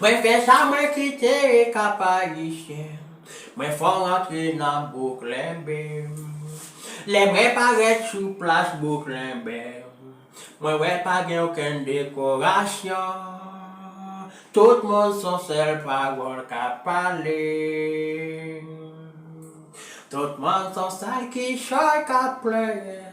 Mwen fè sa mwen kite Kapayisyen Mwen fò rantre nan Bouklènbe Lè mwen parèt sou plas Bouklènbe Mwen wè pa gen okenn dekorasyon Tout moun son sèl pawòl k ap pale Tout moun son sèl kichòy k ap pleure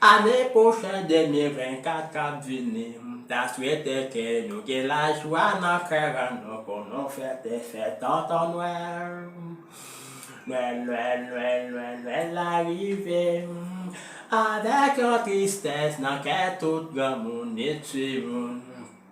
Ane pwochen 2024 k ap vini, m ta swete ke nou gen lajwa nan kè an nou pou nou fete fè tonton nwèl. Nwèl nwèl nwèl nwèl nwèl la rive, avèk yon tristès nan kè tout granmoun e timoun.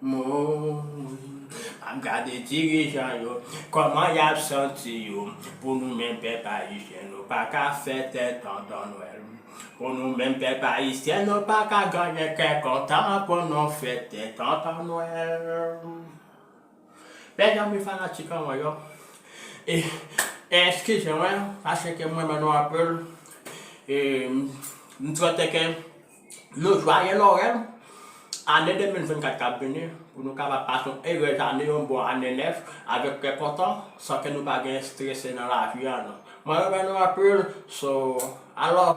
Mouin pap gade dirijan yo kòman yap santi yo pou nou menm pèp ayisyen nou paka fè tè tonton nwèl pou nou menm pèp ayisyen nou paka genyen kè kontan pou nou fè tè tonton nwèl mèsi anpil fanatik an mwen yo e eskize mwen paske mrenmen nou anpil e mswete ke. Yon jwaye Nowèl ane 2024 kap vini pou nou kapab pase yon erez ane yon bon ane nèf avèk kè kontan san ke nou pa gen strese nan lavi a nou. Mwen renmen nou anpil so alò.